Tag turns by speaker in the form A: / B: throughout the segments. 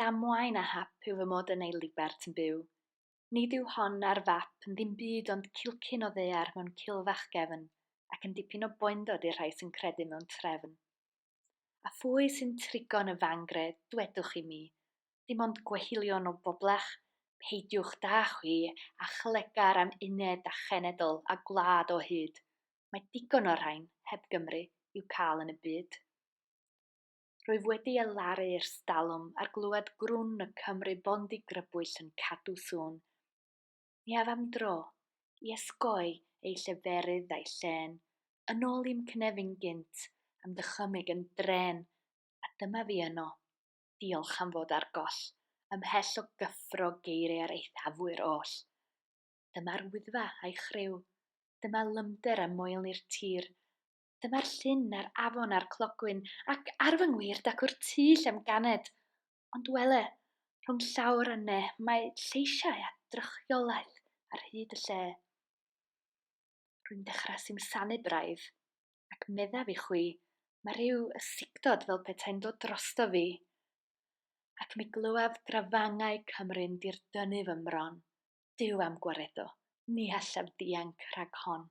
A: Damwain a hap yw fy mod yn ei libert yn byw. Nid yw hon a'r fap yn ddim byd ond cilcyn o ddaear mewn cil fach gefn, ac yn dipyn o boendod i'r rhai sy'n credu mewn trefn. A phwy sy'n trigo yn y fangre, dwedwch i mi? Dim ond gwehylion o boblach? Peidiwch, da chwi, â chlegar am uned a chenedl a gwlad o hyd. Mae digon o'r rhain, heb Gymru, i'w cael yn y byd. Rwyf wedi elaru i'r stalwm ar glywed grwn y Cymry bondi grybwyll yn cadw sŵn. Ni af am dro, i esgoi ei lleferydd a'i llên, yn ôl i'm cnefin gynt, am ddychymyg yn drên, a dyma fi yno, diolch am fod ar goll, ymhell o gyffro geiriau'r eithafwyr oll. Dyma'r Wyddfa a'i chriw, dyma lymder a moelni'r tir, Dyma'r llyn a'r afon a'r clogwyn, ac ar fy ngwir dacw'r tŷ lle'm ganed. Ond wele, rhwng llawr a ne, mae lleisiau a drychiolaeth ar hyd y lle. Rwy'n dechrau simsanu braidd, ac meddaf i chwi, mae rhyw ysigdod fel petai'n dod drosto fi. Ac mi glywaf grafangau Cymru'n dirdynu fy mron. Duw a'm gwaredo, ni allaf ddianc rhag hon.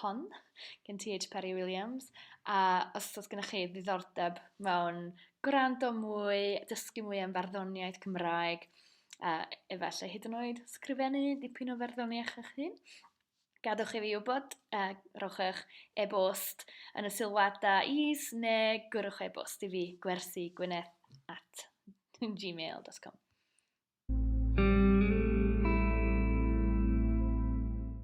A: hon gen TH Parry Williams a os oes gennych chi ddiddordeb mewn gwrando mwy, dysgu mwy am farddoniaeth Cymraeg a efallai hyd yn oed sgrifennu dipyn o farddoniaeth eich hun, gadwch i fi wybod, a rhowch eich e-bost yn y sylwadau is neu gwrwch e-bost i fi gwersi gwyneth at gmail.com.